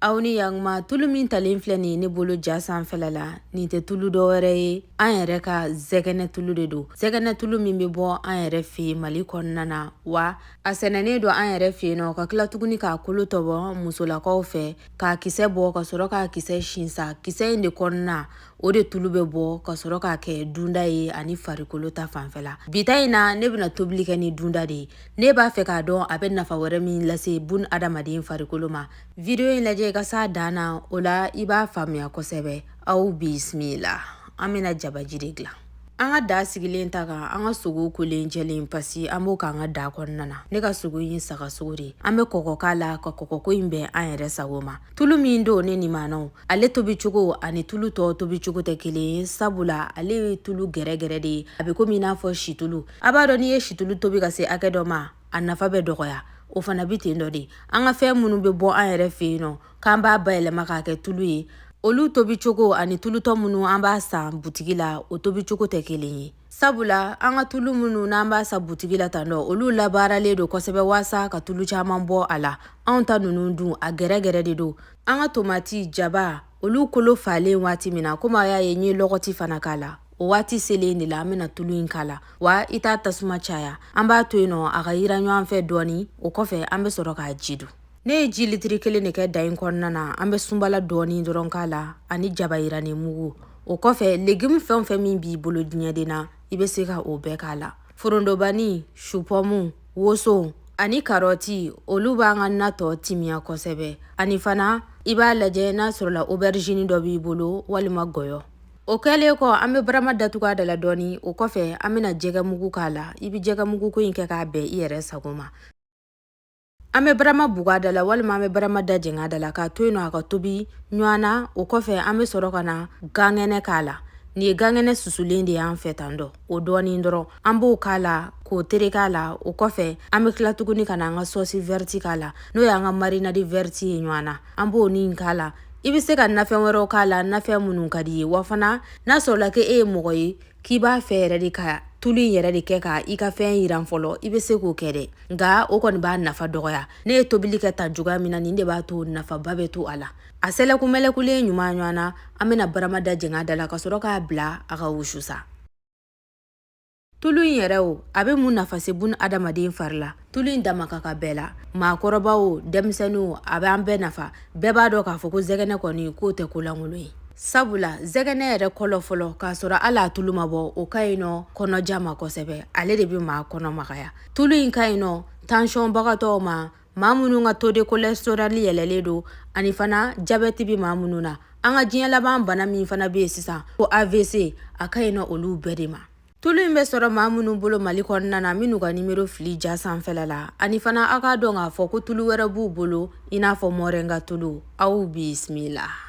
aw ni yan tuma tulu min talen filɛ nin ye ne bolo ja sanfɛla la nin tɛ tulu dɔ wɛrɛ ye an yɛrɛ ka zɛgɛnɛ tulu de don zɛgɛnɛ tulu min bɛ bɔ an yɛrɛ fɛ yen mali kɔnɔna na wa a sɛnɛnen don an yɛrɛ fɛ yen nɔ ka tila tuguni k'a kolo tɔbɔ musolakaw fɛ k'a kisɛ bɔ ka sɔrɔ k'a kisɛ sin sa kisɛ in de kɔnɔna o de tulu bɛ bɔ ka sɔrɔ k'a kɛ dunda ye ani farikolo ta fanfɛla bi ta in na ne bɛna tobili kɛ ni dunda de ye ne b'a fɛ k'a dɔn a bɛ nafa wɛrɛ min lase bun adamaden farikolo ma vidiyo in lajɛ i ka s'a dan na o la i b'a faamuya kosɛbɛ aw bisimila an bɛna jabaji de dilan an ka daa sigilen ta kan an ka sogo kolen jɛlen pasi an b'o k'an ka daa kɔnɔna na ne ka sogo ye saga sogo de an bɛ kɔkɔ k'a la ka kɔkɔko in bɛn an yɛrɛ sago ma tulu min don ne nimanaw ale tobi cogo ani tulu tɔ tobi cogo tɛ kelen ye sabula ale ye tulu gɛrɛgɛrɛ de ye a bɛ komi i n'a fɔ situlu a b'a dɔn n'i ye situlu tobi ka se hakɛ dɔ ma a nafa bɛ dɔgɔya o fana bɛ ten dɔ de an ka fɛn minnu bɛ bɔ an yɛrɛ fɛ yen nɔ k'an b'a bayɛlɛma k'a kɛ tulu ye olu tobi cogo ani tulu tɔ minnu an b'a san butigi la o tobi cogo tɛ kelen ye sabula an ka tulu minnu n'an b'a san butigi la tan dɔ olu labaaralen don kosɛbɛ waasa ka tulu caman bɔ a la anw ta ninnu dun a gɛrɛgɛrɛ de don an ka tomati jaba olu kolo falen waati min na komi a y'a ye n ye lɔgɔti fana k'a la o waati selen de la an bɛna tulu in k'a la wa i t'a tasuma caya an b'a to yen nɔ a ka yira ɲɔgɔn fɛ dɔɔni o kɔfɛ an bɛ sɔrɔ k'a ji dun ne ye ji litiri kelen de kɛ daa in kɔnɔna na an bɛ sunbala dɔɔni dɔrɔn k'a la ani jaba yirani mugu o kɔfɛ legimu fɛn o fɛn min b'i bolo diɲɛden na i bɛ se ka o bɛɛ k'a la forondobani supɔmu woso ani karɔti olu b'an ka na tɔ timiya kosɛbɛ ani fana i b'a lajɛ n'a sɔrɔla oberizini dɔ b'i bolo walima gɔyɔ o kɛlen kɔ an bɛ barama datugu a da la dɔɔni o kɔfɛ an bɛna jɛgɛ mugu k'a la i bɛ jɛgɛ mugu ko in kɛ k'a bɛn i yɛrɛ sago ma an bɛ barama bug'a da la walima an bɛ barama da jɛngɛ a da la k'a to yen nɔ a ka tobi ɲɔgɔn na o kɔfɛ an bɛ sɔrɔ ka na gankɛnɛ k'a la nin ye gankɛnɛ susulen de y'an fɛ tan dɔ o dɔɔni dɔrɔn an b'o k'a la k'o terek'a la o kɔfɛ an bɛ tila tuguni ka na an ka sɔsi vɛrɛti k'a la n'o y'an ka marinadi vɛrɛti ye ɲɔgɔn na an b'o ni k'a la i bɛ se ka nafɛn wɛrɛw k'a la nafɛn minnu ka di i ye wa fana n'a sɔrɔla k'e ye mɔgɔ ye k'i b'a fɛ yɛrɛ de ka tulu in yɛrɛ de kɛ ka i ka fɛn yiran fɔlɔ i bɛ se k'o kɛ dɛ nka o kɔni b'a nafa dɔgɔya ne ye tobili kɛ tan cogoya min na nin de b'a to nafaba bɛ to a la a sɛlɛkumɛlɛkulen ɲuman ɲɔgɔn na an bɛna barama da jɛng'a da la ka sɔrɔ k'a bila a ka wusu sa tulu in yɛrɛ o a bɛ mun nafa se bun adamaden fari la tulu in dama ka kan bɛɛ la maakɔrɔba o denmisɛnnin o a bɛ an bɛɛ nafa bɛɛ b'a dɔn k'a fɔ ko zɛgɛnɛ kɔni k'o tɛ kolankolon ye sabula zɛgɛnɛ yɛrɛ kɔlɔ fɔlɔ k'a sɔrɔ hali a tulu ma bɔ o ka ɲi nɔ kɔnɔja ma kosɛbɛ ale de bɛ maa kɔnɔ magaya tulu in ka ɲi nɔ tansiyɔnbagatɔw ma maa minnu ka taux de cholestérol yɛlɛlen don ani fana jabɛti bɛ maa minnu na an ka diɲɛ laban bana min fana bɛ yen sisan ko AVC a ka ɲin olu bɛɛ de ma tulu in bɛ sɔrɔ maa minnu bolo mali kɔnɔna na minnu ka nimero filɛ ja sanfɛla la ani fana aw k'a dɔn k'a fɔ ko tulu wɛrɛ b'u bolo i n'a fɔ mɔrɛnga tulu aw bisimila